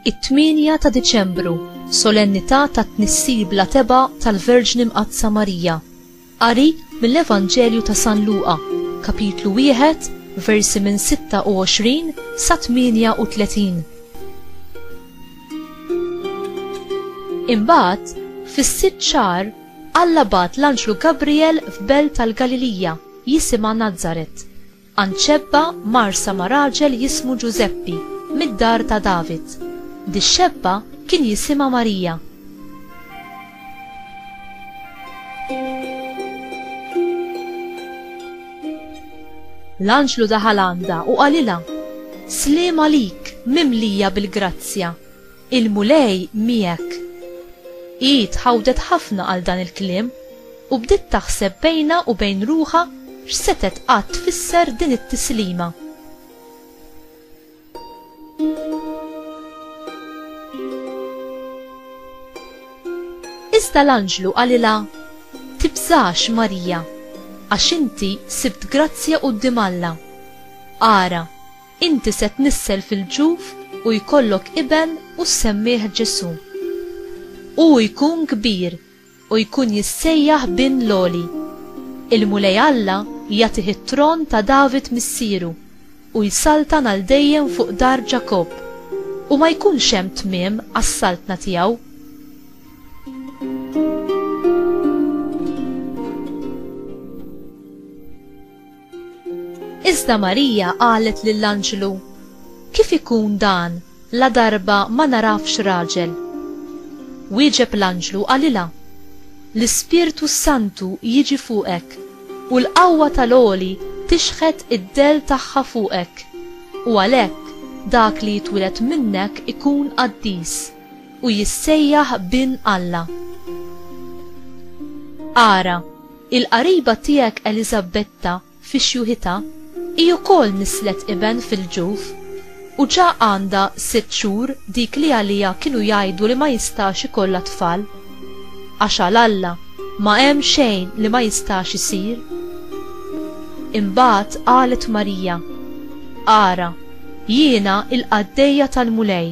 It-8 ta' Diċembru, solennità tat-tnissil bla tebgħa tal-Verġni Mqaddsa Marija. Qari mill-Evanġelju ta' San Luqa, kapitlu wieħed, versi minn 26 sa 38. Imbagħad, fis-sitt xahar, Alla bagħat l-anġlu Gabrijel f'belt tal-Galilija jisimha Nazaret, Anċebba marsa ma' raġel jismu Ġużeppi, mid-dar ta' David. Dix-xebba kien jisimha Marija. L-anġlu daħal għandha u qalilha, Sliem għalik, mimlija bil-grazzja! Il-Mulej miegħek. Hi tħawdet ħafna għal dan il-kliem u bdiet taħseb bejnha u bejn ruħha x'setgħet qatt tfisser din it-tislima. Iżda l-anġlu qalilha, Tibżax, Marija, għax inti sibt grazzja quddiem Alla. Ara, Inti se tnissel fil-ġuf u jkollok iben u ssemmih Ġesù. Hu jkun kbir u jkun jissejjaħ Bin l-Għoli. Il-Mulej Alla jagħtih it-tron ta' David missieru u jsaltan għal dejjem fuq dar Ġakobb, u ma jkunx hemm tmiem għas-saltna tiegħu. Iżda Marija qalet lill-anġlu, Kif ikun dan, ladarba ma nagħrafx raġel? Wieġeb l-anġlu qalilha, L-Ispirtu s-Santu jiġi fuqek, u l-qawwa tal-Għoli tixħet id-dell tagħha fuqek, u għalhekk dak li jitwieled minnek ikun qaddis, u jissejjaħ Bin Alla. Ara! Il-qariba tiegħek Eliżabetta fi xjuħitha hi wkoll nisslet iben fil-ġuf, u ġa għandha sitt xhur dik li għaliha kienu jgħidu li ma jistax ikollha tfal. Għax għal Alla ma hemm xejn li ma jistax isir. Imbagħad qalet Marija, Ara, jiena l-qaddejja tal-Mulej,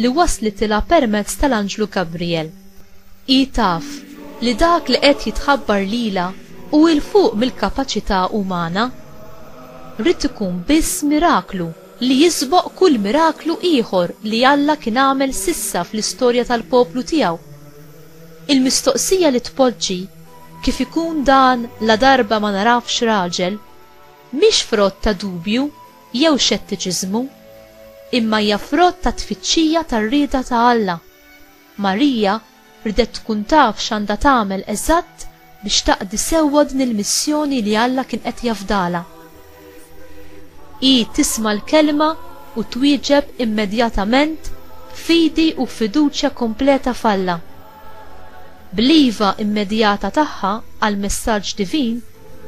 li waslitilha permezz tal-anġlu Gabrijel. Hi taf li dak li qed jitħabbar lilha hu 'l fuq mill-kapaċità umana. Ried ikun biss miraklu li jisboq kull miraklu ieħor li Alla kien għamel s'issa fl-istorja tal-poplu tiegħu. Il-mistoqsija li tpoġġi, Kif ikun dan ladarba ma narafx raġel? mhix frott ta' dubju. jew xettiċiżmu, imma hija frott ta' tfittxija tar-rieda ta' Alla. Marija riedet tkun taf x'għandha tagħmel eżatt biex taqdi sewwa din il-missjoni li Alla kien qed jafdalha. Hi tisma' l-Kelma u twieġeb immedjatament b'fidi u b'fiduċja kompleta f'Alla. Bl-iva immedjata tagħha għall-messaġġ divin,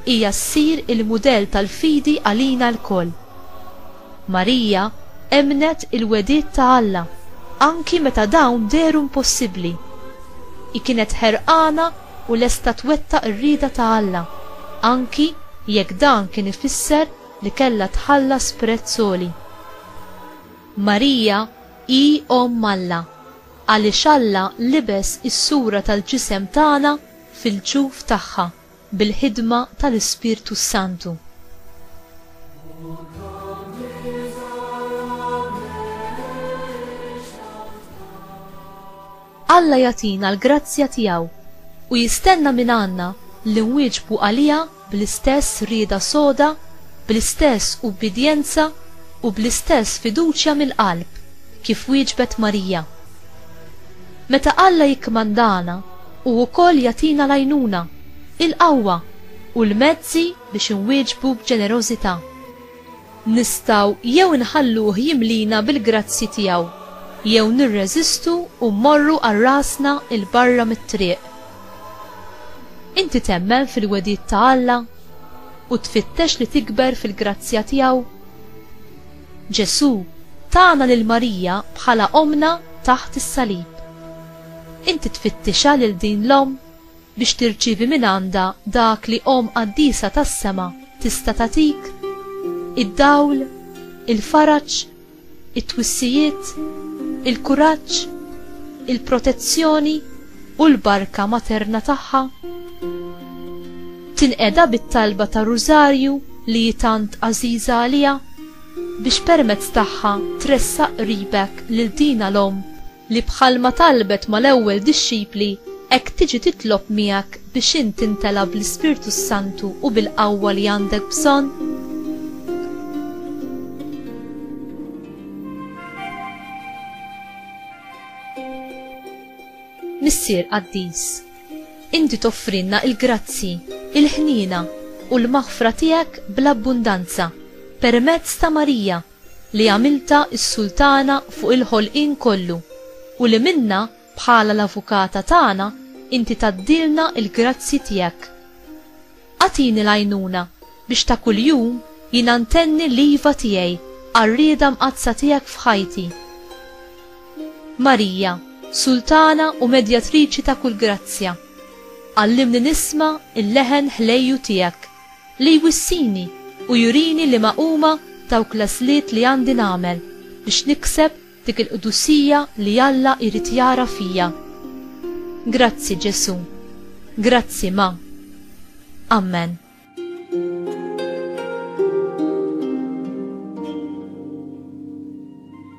hija ssir il-mudell tal-fidi għalina lkoll. Marija emmnet il-wegħdiet ta' Alla, anki meta dawn dehru impossibbli. Hi kienet ħerqana u lesta twettaq ir-rieda ta' Alla, anki jekk dan kien ifisser li kellha tħallas prezz għoli. Marija hi Omm Alla. Għaliex Alla libes is-sura tal-ġisem tagħna fil-ġuf tagħha bil-ħidma tal-Ispirtu s-Santu. Alla jagħtina l-grazzja tiegħu u jistenna mingħandna li nwieġbu għaliha bl-istess rieda soda, bl-istess ubbidjenza u bl-istess fiduċja mill-qalb kif wieġbet Marija. Meta Alla jikkmandana, hu wkoll jagħtina l-għajnuna, il-qawwa, u l-mezzi biex inwieġbu b'ġenerożità. Nistgħu jew inħalluh jimlina bil-grazzji tiegħu, jew nirreżistu u mmorru għal rasna 'l barra mit-triq. Inti temmen fil-wegħdiet ta' Alla u tfittex li tikber fil-grazzja tiegħu? Ġesù tana lil Marija bħala Ommna taħt is-salib. Inti tfittixha lil din l-Omm? biex tirċievi mingħandha dak li Omm Qaddisa tas-sema tista' tagħtik, id-dawl, il-faraġ, it-twissijiet, il-kuraġġ, il-protezzjoni u l-barka materna tagħha. Tinqeda bit-talba tar-Rużarju li hi tant għażiża għaliha, biex permezz tagħha tressaq qribek lil dina l-Omm. li bħalma talbet mal-ewwel dixxipli, hekk tiġi titlob miegħek biex int timtela bl-Ispirtu s-Santu u bil-qawwa li għandek bżonn? Missier qaddis, inti toffrilna l-grazzji, il-ħniena, u l-maħfra tiegħek bl-abbundanza permezz ta' Marija, li għamiltha s-Sultana fuq il-ħolqien kollu u li minnha bħala l-Avukata tagħna inti tgħaddilna l-grazzji tiegħek. Agħtini l-għajnuna biex ta' kuljum jiena ntenni l-iva tiegħi għar-rieda mqaddsa tiegħek f'ħajti. Marija, Sultana u Medjatriċi ta' kull grazzja, għallimni nisma' l-leħen ħlejju tiegħek. Li jwissini u jurini liema huma dawk l-għażliet li għandi nagħmel biex nikseb dik il-qdusija li Alla jrid jara fija. Grazzi, Ġesù. Grazzi, Ma. Ammen.